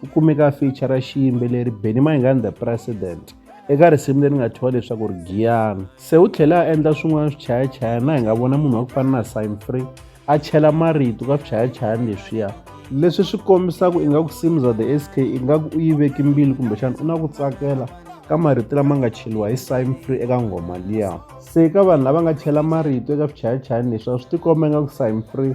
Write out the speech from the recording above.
ku kumeka feature ra xiyimbeleri benny maingani the president eka risimu leri nga thyiwa leswaku ri giyana se u tlhela a endla swin'wana swichayachayana hi nga vona munhu wa ku fana na sign free a chela marito ka swichayachayana leswiya leswi swi kombisaka ingaku simza the sk ingaku u yi veki mbilu kumbexana u na ku tsakela ka marito lama nga cheliwa hi sign free eka nghoma liya se ka vanhu lava nga chela marito eka swichayachayani leswi a swi tikomba ingaku sign free